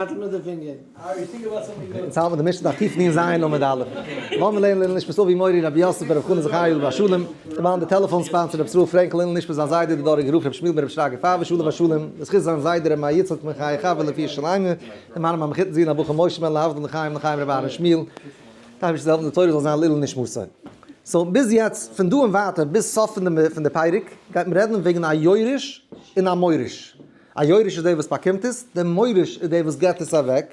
אונז האבן די משנה דף תקנ ז עמוד א'. לאמיר לערנען לעילוי נשמת אבי מורי רבי יוסף בן רבי חנא זכאי עליו השלום, כמובן די טעלעפאן ספאנס פון רבי ישראל פרענקל לעילוי נשמת זיין זיידע די דאראגע רב רבי שמואל בן רבי שרגא פארוואש עליו השלום, לזכות זיין זיידע רבי מאיר יצחק בן חיי חבר לפי שלאנגע, דעם מרן המחותן זי ע הבחור משה בן להבדיל לחיים לחיים רבי אהרן שמואל, טייב השי ת זאל העלפן די תורה זאל זיין לעילוי נשמתו. סאו ביז יעצט פון דא און ווייטער ביז סוף פון די פרק גייט מען רעדן וועגן א יורש און א מוריש. א יורש איז דער וואס באקומט עס, דער מוריש איז דער וואס געבט עס אוועק,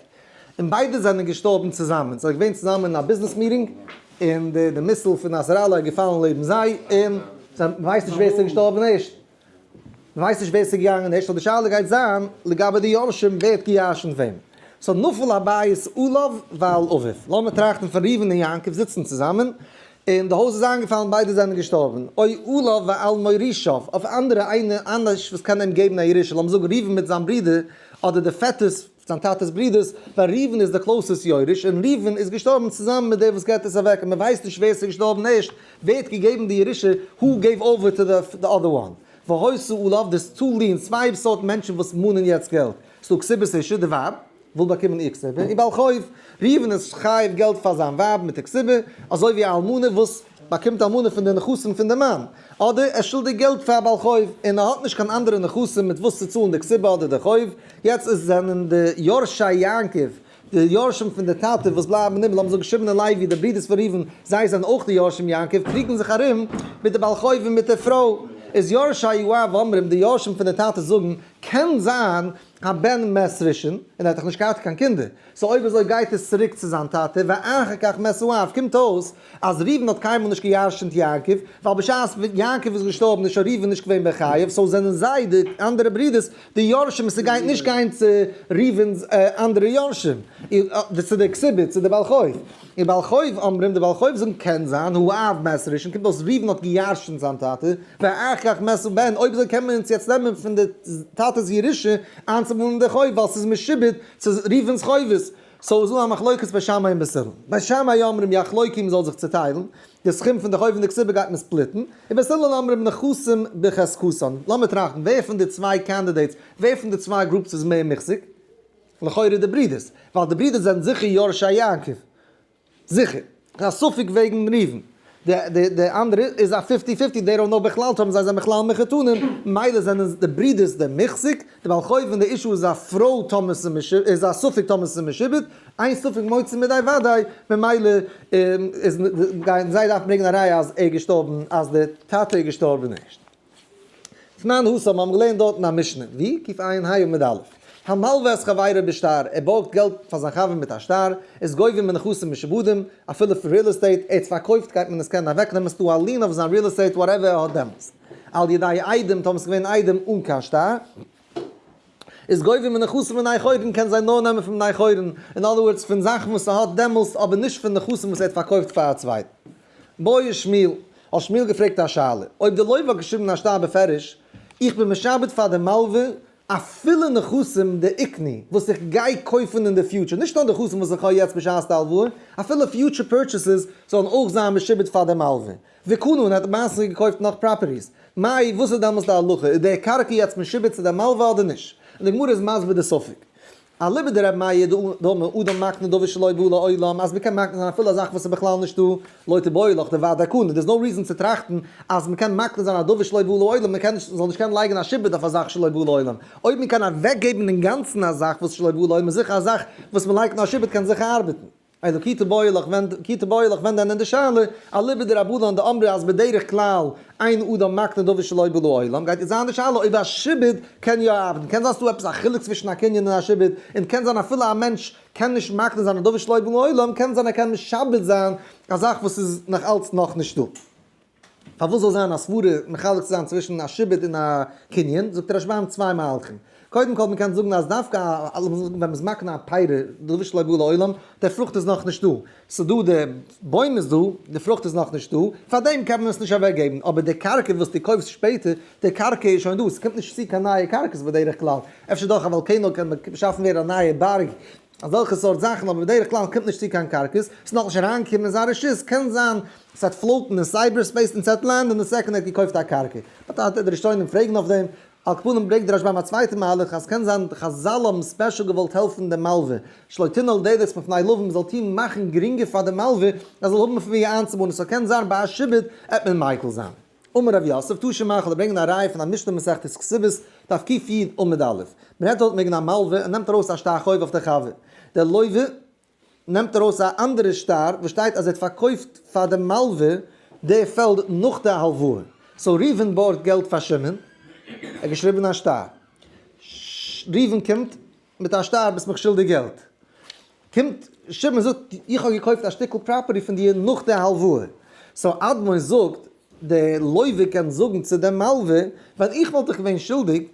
און ביידע זענען געשטארבן צוזאמען, זיי זענען געווען צוזאמען אין א ביזנעס מיטינג, און די מיסיל פון נאסראללא איז געפאלן לעבן זיי, און זיי ווייסן נישט ווער עס איז געשטארבן ערשט, מען ווייסט נישט ווער עס איז געגאנגען ערשט, סאו די שאלה גייט זיין לגבי די יורשים ווער האט געירשנט וועם, סאו נפל הבית עליו ועל אביו, לאמיר טראכטן פון ראובן און יעקב זיצן צוזאמען, און די הויז איז איינגעפאלן ביידע זיינען געשטארבן, אוי עליו ועל מורישיו, אויף אנדערע איינע אנדערש וואס קען אים געבן א ירושה, לאמיר זאגן ראובן מיט זיין ברודער, אדער די פעטערס, זיין טאטעס ברודערס, ווייל ראובן איז דער קלאוסעסט יורש, און ראובן איז געשטארבן צוזאמען מיט דער וואס געבט עס אוועק, און מען ווייסט נישט ווער עס איז געשטארבן ערשט, ווערט געגעבן די ירושה, הו געיוו אווער טו די די אדער וואן? והוסיו עליו דער סטאלין, צוויי סארט מענטשן וואס מאנען יעצט געלט, ס'דא קסיבעס אישע, די ווייב, וויל באקומען איר כסבה, און בעל חוב ראובן איז חייב געלט פאר זיין ווייב מיט די כסבה, אזוי ווי א אלמנה וואס באקומט אלמנה פון די נכסים פון די מאן, אדער ער שולדיג געלט פאר א בעל חוב, און ער האט נישט קיין אנדערע נכסים מיט וואס צו צאלן די כסבה אדער די חוב, יעצט איז זענען די יורשי יעקב, די יורשים פון די טאטע וואס בלייבן אין הימל, האבן זיך געשריבן אין לוי די ברידערס פון ראובן, זיי זענען אויך די יורשים יעקב, קריגן זיך ארום מיט די בעל חוב און מיט די פרוי, איז יורשי יואב אומרים, די יורשים פון די טאטע זאגן, קען זיין קיין בן מאת ראשון, און ער האט דאך נישט געהאט קיין קינדער, סאו אויב אזוי גייט עס צוריק צו זיין טאטע, ואחר כך מאת אביו, קומט אויס אז ראובן האט קיינמאל נישט גע'ירש'נט יעקב, ווייל בשעת יעקב איז געשטארבן איז שוין ראובן נישט געווען בחייו, סאו זענען זיי, די אנדערע ברודערס, די יורשים און ס'גייט נישט גיין צו ראובן'ס אנדערע יורשים, צו די כסובית, צו די בעל חוב. און בעל חוב אומרים, די בעל חוב זאגן קען זיין הוא אב מעשר ראשון, קומט אויס ראובן האט גע'ירש'נט זיין טאטע, ואחר כך מעשר בן, אויב אזוי קען מען אונז יעצט נעמען פון די טאטע'ס ירושה איינצובאלן די חוב ווייל ס'איז משעובד צו ראובן'ס חובות, סאו איז דא א מחלוקת ביי שמאי און בעשל, ביי שמאי אומרים יחלוקו מ'זאל זיך צוטיילן, די סכום פון די חוב און די כסובה גייט מען ספליטן, און בעשל אומרים נכסים בחזקתן, לאמיר טראכטן ווער פון די צוויי קאנדידעיטס, ווער פון די צוויי גרופס איז מער מוחזק? לכאורה די ברידערס, ווייל די ברידערס זענען זיכער יורשי יעקב. זיכער. ס'איז א ספק וועגן ראובן. די אנדערע איז א פיפטי פיפטי, דעי דאונט נאו בכלל טאמער זיי זענען בכלל מחותנים, ממילא זענען די ברידערס די מחזיק, די בעל חוב און די אישו איז א פרוי טאמער ס'איז איז א ספק טאמער ס'איז משעובד, איין ספק מוציא מידי וודאי, ממילא איז גייען זיי דארפן ברענגען א ראיה אז ער איז געשטארבן אז די טאטע איז געשטארבן ערשט. זמן הוסף, מיר האבן געלערנט דארטן א משנה, ווי? ק ע ע' היו עמוד א', המלווה את חבירו בשטר, ער בארגט געלט פאר זיין חבר מיט א שטר, איז גובים מנכסים משעבודים, אפילו פון ריעל עסטעיט, ער האט פארקויפט גייט מען עס קענען אוועקנעמען, ס'דא א לין אויף זיין ריעל עסטעיט וואטעווער ער האט דעמאלטס, על ידי איידעם, טאמער ס'איז געווען איידעם אן קיין שטר. איז גובה מנכסים מן היכורים קען זיי נאר נעמען פון בני חורין, אין אדער ווארדס פון זאכן וואס ער האט דעמאלסט אבער נישט פון נכסים וואס ער האט פארקויפט פאר א צווייטן. בואי שמואל, האט שמואל געפרעגט א שאלה, אויב די לוי' האט געשריבן אין א שטר בפירוש, איך בין משעבד פאר די מלווה אפילו נכסים דעיקני וואס איך גיי קויפן אין די פיוטשער, נישט נאר נכסים וואס איך האב יעצט בשעת די הלוואה, אפילו פיוטשער פורטשעסעס זאלן אויך זיין משעובד פאר די מלווה, וקנה און האט מעשה געקויפט נאך פראפערטיס, מאי וואס איז דעמאלס די הלכה, איז די קרקע יעצט משועבד צו די מלווה אדער נישט? און די גמרא איז מסביר די ספק. אליבא דרבי מאיר דאמר אדם מקנה דבר שלא בא לעולם אז מ'קען מקנה זיין אפילו א זאך וואס איז בכלל נישטא, לא תבעו לך דבר די קנה, דאס נאו ריזען צו טראכטן אז מ'קען מקנה זיין א דבר שלא בא לעולם, מ'קען נישט, זאל נישט קענען לייגן א שעבוד אויף א זאך שלא בא לעולם, אויב מ'קען אוועקגעבן אינגאנצן א זאך וואס שלא בא לעולם איז זיכער א זאך וואס מ'לייגט נאר שעבוד קען זיכער ארבעטן. אויב די כיתה בויעלעך ווענדט כיתה בויעלעך ווענדט דען אין די שאלה אליבא דרבנן דאמרי אז בדרך כלל אין אדם מקנה דבר שלא בא לו עולם גייט זיין די שאלה אויב א שעבוד קען יא אבדן קען זיין ס'דא עפעס א חילוק צווישן א קנין און א שעבוד און קען זיין אפילו א מענטש קען נישט מקנה זיין א דבר שלא בא לו עולם קען זיין ער קען משעבד זיין א זאך וואס איז נאכאלץ נאכנישט דא. פארוואס זאל זיין א סברה מחלק צו זיין צווישן א שיבוט און א קנין, זאגט רשב ם צוויי מהלכים. קודם כל מען קען זאגן אז דווקא ווען מען איז מקנה א פירה, דבר שלא בא לעולם, די פרוכט איז נאך נישט דא, ס'איז דא די בוים איז דא, די פרוכט איז נאך נישט דא, פאר דעם קען מען עס נישט אוועק געבן, אבער די קרקע וואס דו קויפסט שפעטער, די קרקע איז שוין דא, ס'קומט נישט צו קיין נייע קרקעות בדרך כלל, אפשר דורך א וואלקענאו קען באשאפן ווערן א נייע בארג, אזעלכע סארט זאכן, אבער בדרך כלל קומט נישט צו קיין קארקעס, ס'איז נאכנישט אריינגעקומען אין זיין רשות, קען זיין ס'וועט פלאוטן אין סייבער ספעיס און ס'וועט לענדען די סעקונד ער האט געקויפט א קרקע. באט אט די ראשונים פרעגן אויף דעם. על כפנים ברענגט די רשב ם א צווייטע מהלך אז קען זיין חזל האבן ספעשל געוואלט העלפן דעם מלווה שלא תנעל דעדעס מפני לווים מ'זאל טון מאכן גרינגער פאר דעם מלווה ער זאל האבן פון ווי איינצובאנען סאו קען זיין ביי א שעבוד עט מען מיקל זיין אמר רבי יוסף, טאר שוין מאכל און ברענגען א ראיה פון א משנה מסכת כסובות, דף קיט י' עמוד א', מען נעמט אויט מעגן א מלווה און נעמט ארויס א שטר חוב אויף דער חבר, דער לויווע נעמט ארויס א אנדערע שטר וואס שטייט אז ער האט פארקויפט פאר דעם מלווה די פעלד נאך די הלוואה, סאו ראובן בארגט געלט פאר שמעון, ער האט געשריבן א שטר, ראובן קומט. מיט א שטר ביסט מיך שולדיג געלט. קומט שמעון זאגט איך האב געקויפט א שטיקל פראפערטי פון דיר נאך די הלוואה. סאו אדמור זאגט די לוי'ער קען זאגן צו די מלווה ווען איך וואלט דיך געווען שולדיג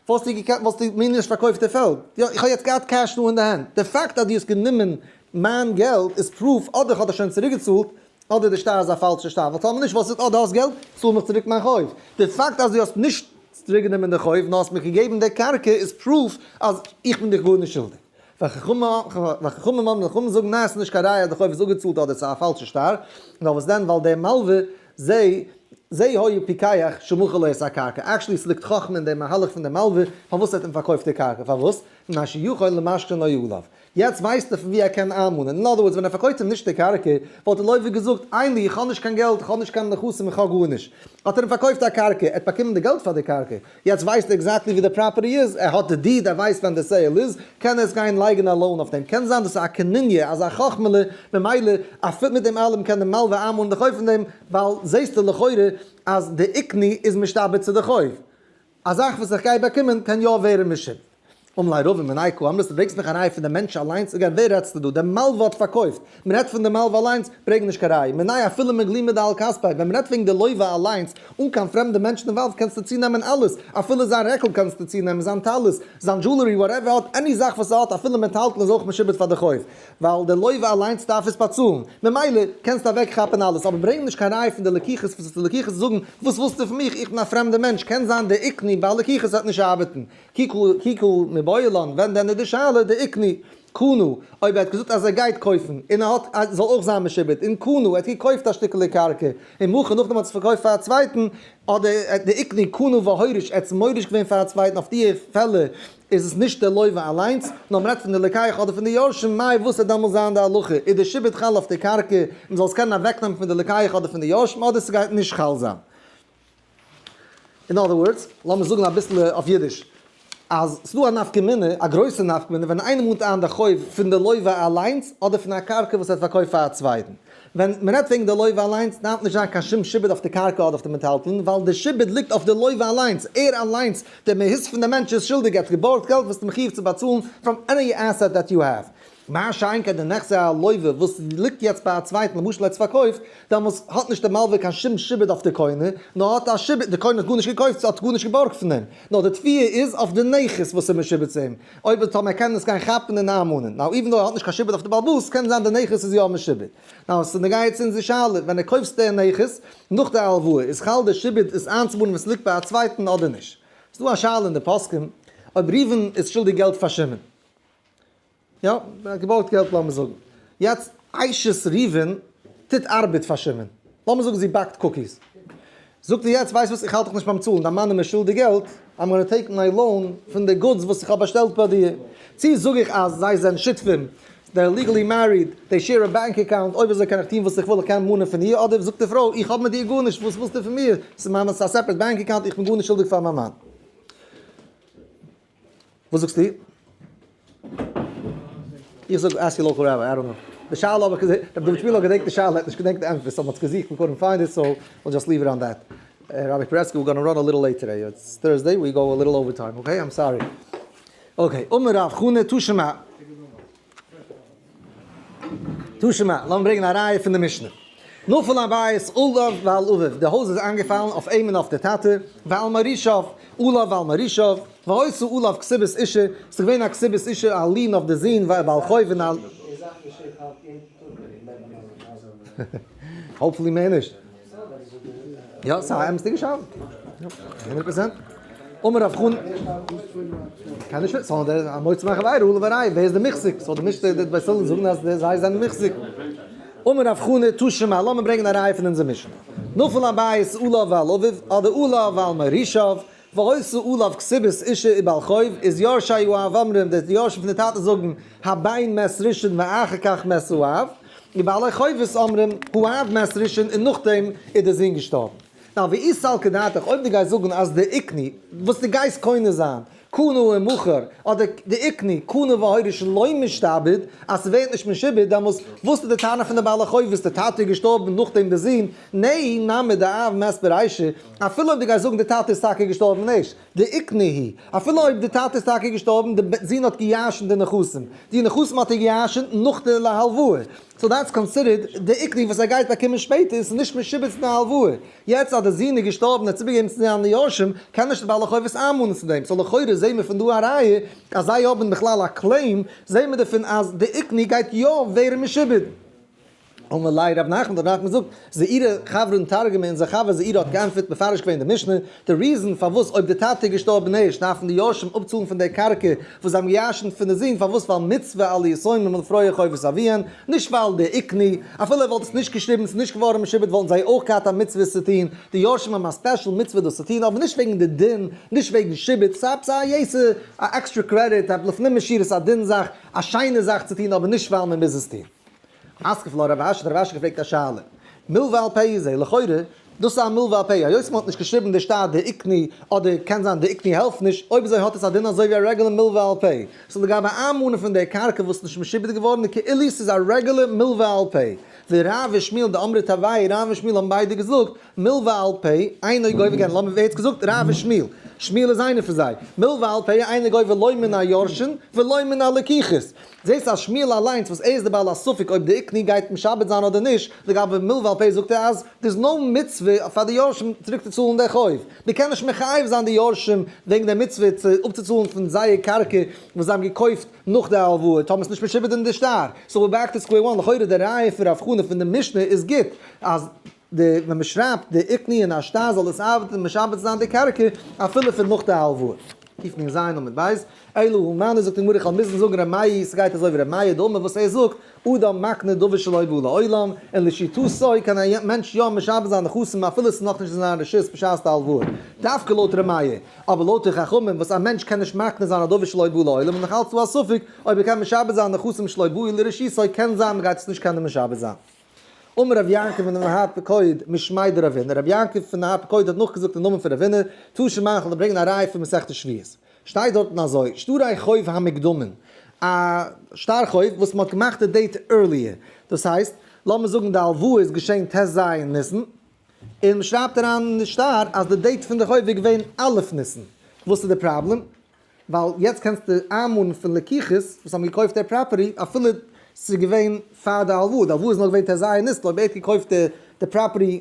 וואלסטו געקענט וואלסטו מיר נישט פארקויפט די פעלד. יא איך האב יעצט געהאט קעש דא אין די הענט. די פאקט אז דו האסט גענומען מיין געלט איז פרוף אדער איך האב דיך שוין צוריק געצאלט אדער די שטר איז א פאלשע שטר, ווייל טאמער נישט וואס איז אט די האסט געלט, צאל מיך צוריק מיין חוב. די פאקט אז די האסט נישט צוריק גענומען די חוב נאר האסט מיך געגעבן די קרקע איז פרוף אז איך בין דיך גארנישט שולדיג. וחכמים אמרו, חכמים זאגן ניין עס איז נישט קיין ראיה אז די חוב איז אפגעצאלט אדער עס איז א פאלשע שטר, נאר וואס דען ווייל די מלווה זי זי היה פיקח שמכר לו את הקרקע, עקשלי עס ליגט חכמה אין די מהלך פון די מלווה פארוואס ער האט אים פארקויפט די קרקע, פארוואס? ממה שיכול למשכן לא יעלב. יעצט ווייסט ער פון ווי ער קען איינמאנען. אין אדער ווארדס, ווען ער פארקויפט אים נישט די קרקע, וואלט ער לויפערג געזאגט, איינלי, איך האב נישט קיין געלט, איך האב נישט קיין נכסים, איך האב גארנישט. האט ער אים פארקויפט א קרקע, ער האט באקומען די געלט פאר די קרקע. יעצט ווייסט ער עקזעקטלי ווי די פראפערטי איז, ער האט די דיד, ער ווייסט ווען די סעיל איז, קען ער יעצט גיין לייגען א לאון אויף דעם. קען זיין דאס איז א קנוניא, אזא חכמה'לע, ממילא אפי' מיט דעם אלעם קען די מלוה איינמאנען די חוב פון דעם, ווייל זעהסטו לכאורה אז די עקני איז משתעבד צו די חוב. א זאך וואס איך גיי באקומען קען יא ווערן משומד. אמלי רבים מנאי כ אמרת ברענגסט מיך א ראי' פון די מענטש אליינס אגב ווער רעדסטו דא די מלוה האט פארקויפט מען רעדט פון די מלוה אליינס ברענג נישט קיין ראי' מנאי אפילו מגלים מידע על כספי ווען מען רעדט וועגן די לוה אליינס אן קיין פרעמדע מענטשן אינוואלווד קענסטו צונעמען אלעס אפילו זיין רעקל קענסטו צונעמען זיין טלית זיין דזשולערי וואטעווער עני זאך וואס ער האט אפילו מען טיילט מען איז אויך משומד פאר די חוב ווייל די לוי' אליינס דארף עס באצאלן, ממילא קענסטו אוועק כאפן אלעס, אבער ברענג נישט קיין ראיה פון די לקיחות, וואס האסטו לקיחות צו זאגן, וואס ווילסטו פון מיך, איך בין א פרעמדע מענטש, קען זיין די עקני ביי לקיחות וועט נישט ארבעטן, כי כל מבעול אן, ווען דען איז די שאלה די עקני, קנו, אויב ער האט געזאגט אז ער גייט קויפן, און ער האט, זאל אויך זיין משעובד, און קנו, ער האט געקויפט א שטיקעלע קרקע, און מאוחר נאכדעם האט ער עס פארקויפט פאר א צווייטן, אדער די עקני, קנו והוריש, ער האט עס מוריש געווען פאר א צווייטן, אויף דיע פעלער איז עס נישט דער לוי'ווע אליינס, נאר מען רעדט פון די לקיח אדער פון די יורשים, מאי וואס וועט דעמאלס זיין די הלכה, איז די שיבוד חל אויף די קרקע, מען זאל עס קענען אוועקנעמען פון די לקיח אדער פון די יורשים, אדער עס גייט נישט חל זיין. אין אדער ווארדס, לאמיר זאגן אביסל אויף אידיש, אז עס איז דא א נפקא מינה, א גרויסע נפקא מינה, ווען איינער מאנט איין די חוב פון די לוי'ווע אליינס, אדער פון א קרקע וואס ער האט פארקויפט פאר א צווייטן. ווען מען רעדט וועגן די לוי' אליינס דארף נישט זיין קיין שום שיבוד אויף די קרקע אדער אויף די מיטהאלטן, ווייל די שיבוד ליגט אויף די לוי' אליינס, ער אליינס, דער מהות פון דעם מענטש איז שולדיג, ער האט געבארגט געלט וואס איז מחויב צו באצאלן פראם עני עסעט דעט יו העוו. מה שאין כן די נכסי הלווה וואס ליגט יעצט ביי א צווייטן למשל ער האט עס פארקויפט, דעמאלס האט נישט דער מלווה קיין שום שיבוד אויף די קונה, נאר האט א שיבוד, די קונה האט גארנישט געקויפט, האט גארנישט געבארגט פון אים, נאר די תביעה איז אויף די נכס וואס איז משועבד צו אים. אויב און טאמער קען עס גיין כאפן אין איין מנין, נאו איווען דאו ער האט נישט קיין שיבוט אויף די בעלבאס קען זיין די נכס איז יא משיבוט, נאו עס איז נוגע יעצט אונזער שאלה, ווען ער קויפסט די נכס נאך די הלוואה איז חל די שיבוט עס איינצובאנען ווען ס'ליגט ביי א צווייטן אדער נישט? ס'איז דא א שאלה אין די פוסקים אויב ראובן איז שולדיג געלט פאר שמעון, יא ער האט געבארגט געלט לאמיר זאגן יעצט אשת ראובן טוט ארבעט פאר שמעון, לאמיר זאגן זי באקט קוקיס, זאגט ער יעצט ווייסט וואס איך האלט דיך נישט ביים צאלן דיין מאן איז מיר שולדיג געלט, איים גאנא טעיק מיי לאון פון די גודס וואס איך האב באשטעלט ביי דיר, צו זאג איך אז זיי זענען שותפים, זיי אר ליגעלי מעריד, זיי שעיר א באנק אקאונט, אויב אזוי קען איך טון וואס איך וויל איך קען מאנען פון איר, אדער זאגט די פרוי איך האב מיט דיר גארנישט וואס ווילסטו פון מיר, ס'איז מיינע ס'איז א סעפרעט באנק אקאונט איך בין גארנישט שולדיג פאר מיין מאן. וואס זאגסטו? איך זאג אסק יור לאקעל רבי, איי דאנט נאו. די שאלה האב איך געזעהן, רבי דוד שמואל האט געדענקט די שאלה, ער האט נישט געדענקט די ענטפער, סאו מ'האט עס געזוכט און קאנט פיינד איט, סאו וויל דזשאסט ליוו איט אן דעט. רבי פרעסקי ווער גאנא ראן א ליטעל לעיט טודעי, איטס טורסדעי, ווי גאו א ליטעל אווער טיים, אקעי, איים סארי. אקעי, אמר רב חנא תשמע. תשמ א, לאמיר ברענגען א ראיה פון די משנה. נפל על בית אליו ועל אביו, די הויז איז איינגעפאלן אויף אים און אויף די טאטע, ועל מורישיו אליו ועל מורישיו, והוסיו אליו כסבת אישה, ס'איז געווען א כסבת אישה א לין אויף די זון ועל חויב און על. האופפולי מער נישט. יא, ס'איז א אמת'דיגע שאלה. הונדערט פראצענט. אמר רב חנ ל. קען נישט ווערן. ס'זאל א מוציא מאכן ווער ר' אלי' איז די מוחזק. ס'זאל די משתה די בית הלל זאגן אז זיי זענען מוחזק. אמר רב חנ ל, תשמ א, לאמיר ברענגען א ראיה פון אונזער משנה. נפל הבית עליו ועל אביו, אדער עליו ועל מורישיו, ועושה עליו כסבית אישה און בעל חוב, איז יורשיו הוא אב אמרים, די יורשים פון די טאטע זאגן, הבן מת ראשון ואחר כך מת האב, און בעלי חובות אומרים, האב מת ראשון און נאכדעם איז די זון געשטארבן. נאר והיא סלקא דעתך, אויב דו גייסט זאגן אז די עקני, וואס דו גייסט קונה זיין, קנה הוא מוכר, אדער די עקני, קנה והיורש לא משתעבד, אז ס'ווערט נישט משועבד, דעמאלס וואס איז די טענה פון די בעלי חובות, די טאטע איז געשטארבן און נאכדעם די זון, נהי נמי דאב מת ברישה, אפילו אויב דו גייסט זאגן די טאטע איז טאקע געשטארבן נישט די איקנה היא, אפילו אויב די טאטע איז טאקע געשטארבן, די בן זון האט געיאשנט די נכסים, די נכסים האט ער געיאשנט נאך די להלוואה, סאו דעטס קאנסידערט די איקנה היא וואס ער גייט באקומען שפעטער, און ס'איז נישט משובץ אין די הלוואה. יעצט אז די זון איז געשטארבן און ער האט איבערגעגעבן צו זיינע יורשים, קען נישט די בעל החובות איינמאנען צו דעם, סאו לכאורה זעהן מיר פון דא א ראיה אז זיי האבן בכלל א קלעים, זעהן מיר דערפון אז די איקנה היא גייט יא ווערן משובץ. אמר ליה ר' נחמן, ר' נחמן זאגט, זעירע חברה און תרגומי און זיי חבר זעירע האט גענטפערט מפרש געווען די משנה, די ריזען פארוואס אויב די טאטע איז געשטארבען ערשט דארפען די יורשים אפצאלען פון די קרקע וואס זיי האבען געירשנט פון די זון פארוואס ווייל מצוה על יתומים ולפרוע חובות אביהן נישט ווייל די עיקני אפילו ער וואלט עס נישט געשריבען ס'איז נישט געווארען משובד וואלטען זיי אויך געהאט א מצוה עס צו טוהן די יורשים האבען א ספעשעל מצוה דאס צו טוהן אבער נישט וועגען די דין נישט וועגען שיבוד ס'איז עפעס א יעצע א עקסטרע קרעדיט לפנים משירת א דין זאך א שיינע זאך צו טוהן אבער נישט ווייל מען מוז עס טוהן. אסקופה לא רב אש האט רב אש געפרעגט א שאלה מלווה על פ' איז זי לכאורה דאס א מלווה על פ' היות מען האט נישט געשריבן די שטר דעיקני אדער קען זיין דעיקני העלפט נישט אויב אזוי האט עס א דין אזוי ווי א רעגולע מלווה על פ' סאו לגבי איינמאנען פון די קרקע וואס נישט משועבד געווארן איז כאילו ס'איז א רעגולע מלווה על פ' ווי ר' און שמואל דאמרי טבעי ר' און שמואל האבן ביידע געזאגט מיל ועל פ, איין אויג אויבער גענער, לאמיר ווער האט עס געזאגט? ר' אבי שמואל, שמואל איז איינער פון זיי, מיל ועל פ איין אויג אויבער לא מן היורשין ולא מן הלקיחות, זעסט אז שמואל אליינס וואס ער איז די בעל הספק אויב די עקני גייט משעבד זיין אדער נישט, לגבי מיל ועל פ זאגט ער אז דער איז נאו מצוה פאר די יורשים צוריק צו צאלן די חוב, מען קען נישט מחייב זיין די יורשים וועגן די מצוה צו אפצוצאלן פון זייער קרקע וואס זיי האבן געקויפט נאך די הלוואה טאמער עס נישט משעבד אין די שטר, סאו ווער בעק טו סקווער וואן, לכאורה די ראיה פון רב חנא פון די משנה איז גוט אז. די ווען מען שרייבט די איקני אין א שטר זאל עס ארבעטען און משעבד זיין די קרקע אפילו פון נאך די הלוואה. קיף מין זיין עמוד בית. אלא הוא מאן זאגט די גמרא איך וועל מוזן זאגן ר' מאיר סגייט אזוי ווי ר' מאיר דאמר וואס ער זאגט אדם מקנה דבר שלא הביאו לעולם און לשיטתו קען א מענטש יא משעבד זיין נכסים אפילו עס איז נאכנישט אין זיין רשות בשעת די הלוואה דווקא לויט ר' מאיר אבער לויט די חכמים וואס א מענטש קען נישט מקנה זיין א דבר שלא הביאו לעולם איז נאכאלץ דא א ספק אויב ער קען משעבד זיין נכסים שלא הביאו לרשותו קען זיין מען גייט עס נישט קענען משעבד זיין. אמר רבי יעקב מן האפיקוד משמעי דרבינא, רבי יעקב פון די האפיקוד האט נאכגעזאגט אין נאמען פון רבינא, תשע מערכות וועלן ברענגען א ראיה פון מסכת שביעית, שטייט דארטן אזוי, שטרי חוב המקדמין, א שטר חוב וואס מען האט געמאכט די דעיט ערליער, דאס הייסט, לאמיר זאגן די הלוואה איז געשען ט ז ניסן, און מען שרייבט אריין אין די שטר אז די דעיט פון די חוב איז געווען א' ניסן, וואס איז די פראבלעם? ווייל יעצט קענסטו איינמארן פון לקיחות וואס האבן געקויפט דער פראפערטי אפילו ס'איז געווען פאר די הלוואה, די הלוואה איז נאר געווען ת ז אייר ניסן, אויב ער האט געקויפט די פראפערטי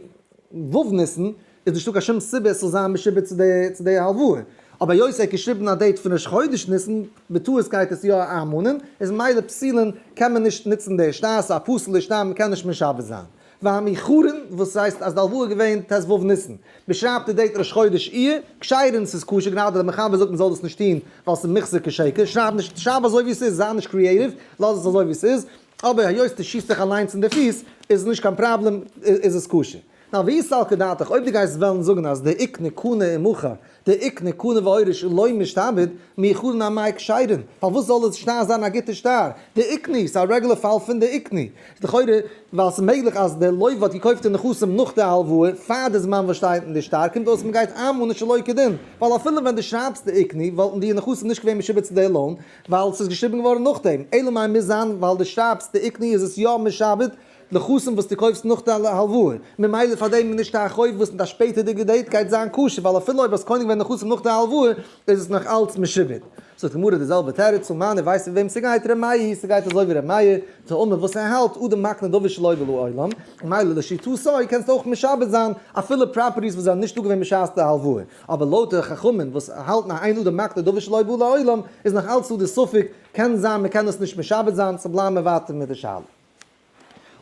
ו' ניסן איז נישטא קיין שום סיבה עס זאל זיין משועבד צו די צו די הלוואה, אבער היות ער האט געשריבן א דעיט פון ראש חודש ניסן, בטעות גייט עס יא איינמאנען, איז מילא פסילין קען מען נישט ניצן די שטר, ס'איז א פסול די שטר, מ'קען נישט משעבד זיין. והמיחרין וואס הייסט אז די הלוואה איז געווען ט ו ניסן? מען שרייבט די דעיט ראש חודש אייר, כשרון ס'איז כשר גענאר דער מחבר זאגט מען זאל דאס נישט טוהן ווייל ס'איז מחזור כשקר, שרייב נישט שרייב אזוי ווי ס'איז זיי נישט קריעטיוו, לאז עס אזוי ווי ס'איז, אבער היות די שיסט זיך אליינס אין די פיס איז נישט קיין פראבלעם איז עס כשר. נאר ווי סלקא דעתך אויב די גייסט וועלן זאגן אז די עיקר נקנה עמך די עק נקנה ואוריש און לוי משתעבד, מיר חרן א מייק שיידען, פארוואס זאל די שטר זיין א גוטע שטר? די עקני איז א רעגולער פאל פון די עקני. איז לכאורה ווייל ס'איז מעגליך אז די לוי האט געקויפט די נכסים נאך די הלוואה, פאר די זמן וואס שטייט אין די שטר, קומט אויס מ'גייט איינמאלן און שלא כדין, ווייל אפילו ווען די שרייבסט די עקני וואלטן די נכסים נישט געווען משועבד צו די לאון, ווייל ס'איז געשריבן געווארן נאכדעם, אלא מאי מוז זיין ווייל די שרייבסט די עקני איז עס יא משעבד נכסים וואס דו קויפסט נאך די הלוואה, ממילא פאר דעם איז נישט א חוב וואס אין די שפעטערדיגע דעיט גייט זיין כשר, ווייל אפילו אויב האסט קונה געווען נכסים נאך די הלוואה, איז עס נאך אלץ משועבד. זאגט די גמרא די זעלבע תירוץ, און מאן, איר ווייסט פון וועם ס'גייט, ר' מאיר, ס'גייט אזוי ווי ר' מאיר, טעמא, וואס ער האלט, אדם מקנה דבר שלא הוה לו עולם, ממילא לשיטתו קענסטו אויך משעבד זיין אפילו פראפערטיס וואס זענען נישט דא געווען בשעת די הלוואה, אבער לויט די חכמים וואס האלטן אז אין אדם מקנה דבר שלא הוה לו עולם, איז נאך אלץ דא די ספק, קען זיין מ'קען עס נישט משעבד זיין, סאו בלייבן מיר ווייטער מיט די שאלה.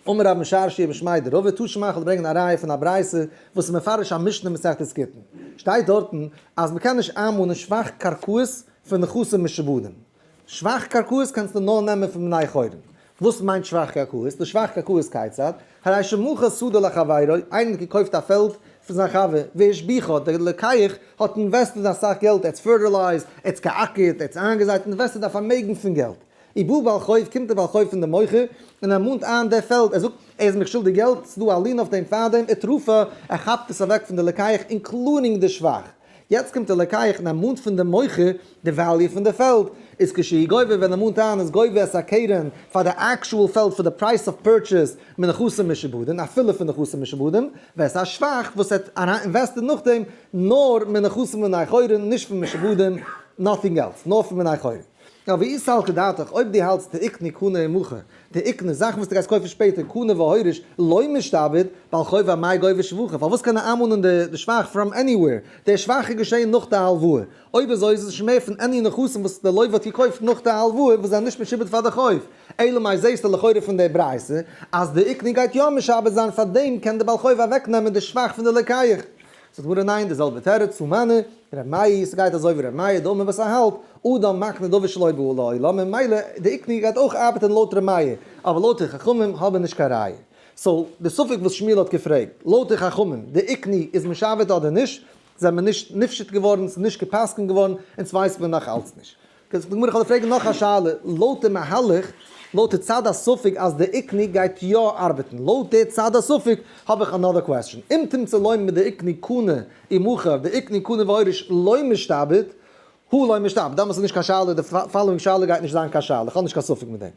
אמר רבן שרשי רבי שמעי' דער רב וועט טאשן מאכן אדער ברענגען א ראיה פון א ברייתא וואס איז מפרש א משנה מסכת גיטין, שטייט דארטן אז מען קען נישט איינמאנען שבח קרקעות פון נכסים משעבודים, שבח קרקעות קענסטו נאר נעמען פון בני חורין, וואס מיינט שבח קרקעות, די שבח קרקעות כיצד, הרי שמכר שדה לחבירו, איינער האט געקויפט א פעלד פון זיין חבר, והשביחו, דער לוקח האט אינוועסטעד אסאך געלט, ער האט פערטילייזד, ער האט געאקערט, ער האט איינגעזייט, אינוועסטעד א פארמעגן פון געלט, איבער בעל חוב קומט דער בעל חוב פון דעם מוכר און ער מאנט איין דער פעלד, ער זאגט, ער איז מיך שולדיג געלט, ס'איז דא א לין אויף דעם פאר דעם אתרופה, ער כאפט עס אוועק פון די לקיח אינקלודינג די שבח. יעצט קומט דער לקיח און ער מאנט פון דעם מוכר די וועליו פון די פעלד, איז כשהיא גובה ווען ער מאנט איין איז גובה עס א קרן פאר די עקשועל פעלד פאר די פרייס אוו פורטשעס מנכסים משעבודין אפילו פון נכסים משעבודים ווערסעס א שבח וואס ער האט אריין אינוועסטעד נאכדעם נאר מנכסים בני חורין נישט פון משעבודים נאטינג עלס נאר פון בני חורין. נאר ווי איז סלקא דעתך, אויב דו האלטסט דעיקנא קנא אין מוכר, דעיקנא זאכן וואס דו גייסט קויפן שפעטער, קנה והוריש, לא משתעבד, בעל חובה מאי גובה שבוכה, פארוואס קען ער איינמאנען די שוואכ פראם עניוועיר, דער שוואכ איז געשען נאך די הלוואה, אויב אזוי איז עס שוין מער פון עני נכסים וואס די לויווע האט געקויפט נאך די הלוואה וואס זענען נישט משעובד פאר די חוב, אלא מאי זעהסטו לכאורה פון דער ברייתא אז דעיקנא גייט יא משעבד זיין פאר דעם קען דער בעל חובה אוועקנעמען די שוואכ פון די לקיח. ס'דברה ניין די זעלבע תירוץ וואו מיינע, ר' מאיר, ס'גייט אזוי ווי ר' מאיר דאמר וואס א האלב אדם מקנה דבר שלא בא לעולם ממילא די איקני גייט אויך ארבעטען לויט ר' מאיר אבער לויט די חכמים האבען נישט קיין ראיה סאו די ספק וואס שמואל האט געפרעגט לויט די חכמים די איקני איז משעבד אדער נישט זעמער נישט נפשט געווארען ס'איז נישט געפסקנט געווארען אונז ווייסט מען נאך אלץ נישט כ'זאג צו די גמרא, איך וועל פרעגן נאך א שאלה, לויט די מהלך, לויט די צד הספק אז די עקני גייט יא ארבעטן, לויט די צד הספק, האב איך אנאדער קוועסטשן, אם תמצא לוין מיט די עקני קנה אי מוכר, די עקני קנה והורש לוין משתעבד, הוא לוין משתעבד, דאמאלס איז נישט קיין שאלה, די פאלאווינג שאלה גייט נישט זיין קיין שאלה, איך האב נישט קיין ספק מיט דעם.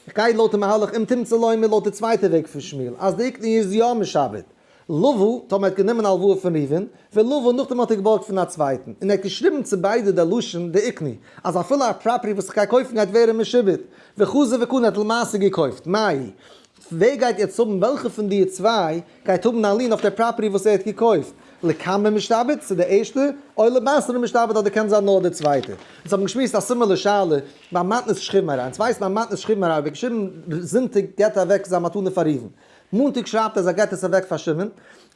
איך גיי לויט די מהלך אם תמצא לוין מיט לויט די צווייטע וועג פון שמואל, אז די עקני איז יא משעבד. לבו, טאמער ער האט גענומען הלוואה פון ראובן, ולבו, נאכדעם האט ער געבארגט פון א צווייטן, און ער האט געשריבן צו ביידע דער לשון דעיקני, אז אפילו א פראפערטי וואס איך גיי קויפן גייט ווערן משועבד, וחזי וקנה האט למעשה געקויפט, מאי, ווער גייט יעצט האבן, וועלכע פון די צוויי גייט האבן א לין אויף דער פראפערטי וואס ער האט געקויפט, לקמר משתעבד, צו דער ערשטער, אוי לבשר משתעבד אדער קען זיין נאר דער צווייטער. אונז האבן געשמועסט א סימילער שאלה ביי מתנת שכיב מרע, אונז ווייסן אז מתנת שכיב מרע, ווי געשריבן זונטאג געבט ער אוועק זיין מתנה פאר ראובן, מאנטאג שרייבט אז ער גייט עס אוועק פארשעמען,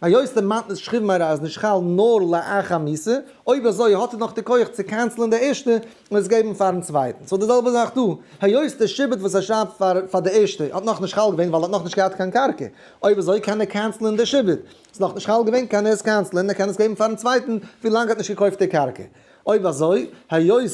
היות ער מיינט נישט שכיב מרע אז נישט חל נאר לאחר מיתה, אויב אזוי האט ער נאך די כח צו קענסלען די ערשטע און עס געבן פארן צווייטן, סאו די זעלבע זאך דא, היות די שבט וואס ער שרייבט פאר פאר די ערשטע האט נאך נישט חל געווען ווייל ער האט נאך נישט געהאט קיין קרקע, אויב אזוי קען ער קענסלען די שבט, ס'איז נאך נישט חל געווען קען ער עס קענסלען, ער קען עס געבן פארן צווייטן ווילאנג ער האט נישט געקויפט די קרקע, אויב אזוי היות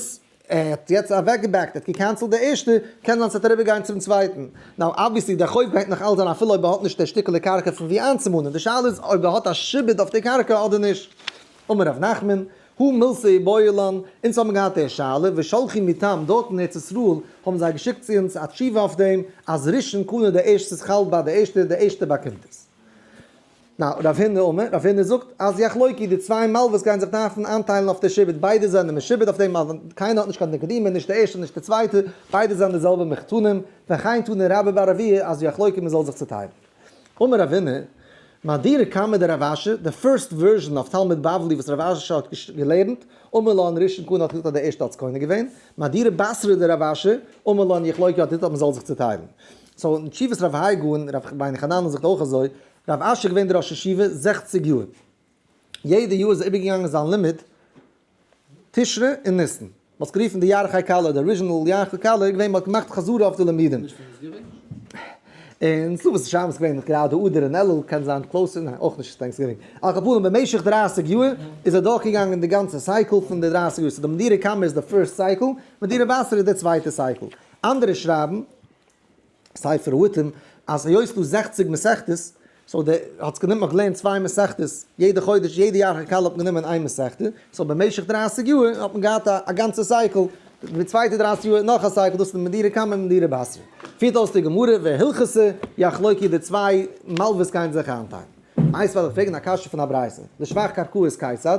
ער האט יעצט אוועקגעבעקט, ער האט געקענסלט די ערשטע, קען זיין ס'וועט אריבער גיין צום צווייטן. נאו, אבוויעסלי דער חוב הענגט נאך אלץ אריין אפילו אויב ער האט נישט דער שטיקעלע קרקע פון ווי איינצומאנען, די שאלה איז אויב ער האט א שעבוד אויף די קרקע אדער נישט. אמר ר' נחמן, הוא מלסה ובויע לן, אונז האבן געהאט דער שאלה, ושלחו מטעם, דארט אין ארץ ישראל האבן זיי געשיקט צו אונז א תשובה אויף דעם, אז ראשון קנה די ערשט ס'איז חל ביי די ערשטע, די ערשטע באקומט עס. נא, רב הונא אומר, רב הונא זאגט אז יחלוקי, די צוויי מלוויס גייען זיך דארפן איינטיילן אויף די שבט, ביידע זענען משובט אויף דעם מלווה, קיינער האט נישט קיין נקדימון, נישט דער ערשטער נישט דער צווייטער, ביידע זענען די זעלבע מחותנים, וכן טענה רבא ביי רביה אז יחלוקי מען זאל זיך צוטיילן. אמר רב הונא, מאדירא קמא דרב אשר, די פירסט ווערזשען אויף תלמוד בבלי וואס רב אשר האט געלערנט, אמר לן ראשון כהנא האט געזאגט אז דער ערשטער האט עס קונה געווען, מאדירא בשרא דרב אשר, אמר לן יחלוקי האט געזאגט אז מען זאל זיך צוטיילן. סאו אין תשובות רב האי ג און רב חיין חננאל זאגט אויך אזוי, רב אשר געווען דער ראש ישיבה זעכציג יאר, יעדע יאר איז ער איבערגעגאנגען זיין לימוד תשרי און ניסן, מען האט עס גערופן די ירחי קאלער, די אריזשינעל ירחי קאלער איז געווען מען האט געמאכט חזרה אויף די לימודים. און סוכות און שבועות געווען גראדע אדר און אלול קען זיין קלאוזער, ניין אויך נישט טענקס גיווינג, על כל פנים במשך דרײַסיק יאר איז ער דורך געגאנגען די גאנצע סייקל פון די דרײַסיק יאר, סאו די מדירי קמח איז די פירסט סייקל, מדירי בשר איז די צווייטע סייקל, אנדערע שרייבן. ספר הועתים אז היות ס'איז דא זעכציג מסכתות, סאו די האט זיך גענומען כ'לערן צוויי מסכתות יעדע חודש, יעדע יאר כ'קאלע האט מען גענומען איין מסכתא, סאו במשך דרייסיג יאר האט מען געהאט א גאנצע סייקל, די צווייטע דרייסיג יאר נאך א סייקל, דאס איז די מדירה קמא און מדירה באסרא. פירט אויס די גמרא והלכות יחלוקי די צוויי מלוויס גייען זיך איינטיילן. איינס וויל איך פרעגן א קשיא פון א ברייתא, לשבח קרקעות כיצד,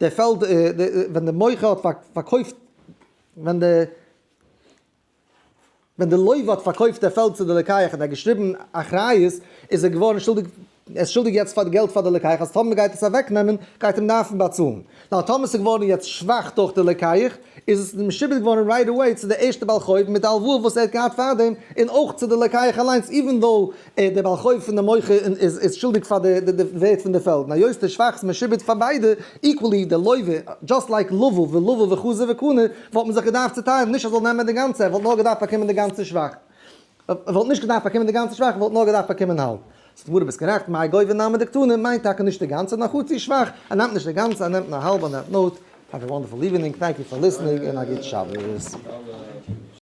דער פעלד ווען דער מוכר האט פארקויפט ווען דער ווען דער לוי' האט פארקויפט דער פעלד צו די לוקח און ער האט געשריבן אחריות איז ער געווארן שולדיג ער איז שולדיג יעצט פאר געלט פאר די לוקח אז טאמער מען גייט עס אוועק נעמען גייט אים דארפן באצאלן נאר טאמער עס איז געווארן יעצט שוואך דורך די לוקח איז עס משועבד געווארן רייט עוועי צו די ערשטע בעל חוב מיט די הלוואה וואס ער האט געהאט פארדעם און אויך צו די לוקח אליינס איווען דאו ער דער בעל חוב פון די מוכר און איז שולדיג פאר די ווערט פון די פעלד און היות די שבח איז משובד פאר ביידע איקוועלי די לוי'ווער דזשאסט לייק לולב ולולב וחזיר וקנה וואלט מען זיך געדארפט צוטיילן נישט ער זאל נעמען די גאנצע ער וואלט נאר געדארפט באקומען די גאנצע שבח ער וואלט נישט געדארפט באקומען די גאנצע שבח ער וואלט נאר געדארפט באקומען האלב. זאגט גמרא ביסט גערעכט מאי גוי' ונעמה דקטנה מיינט טאקע נישט די גאנצע נאר חצי שבח ער נעמט נישט די גאנצע ער נעמט נאר האלב אן ער האט נאר האוו א וואנדערפול איווענינג טענק יו פאר ליסענינג און א גוט שבת.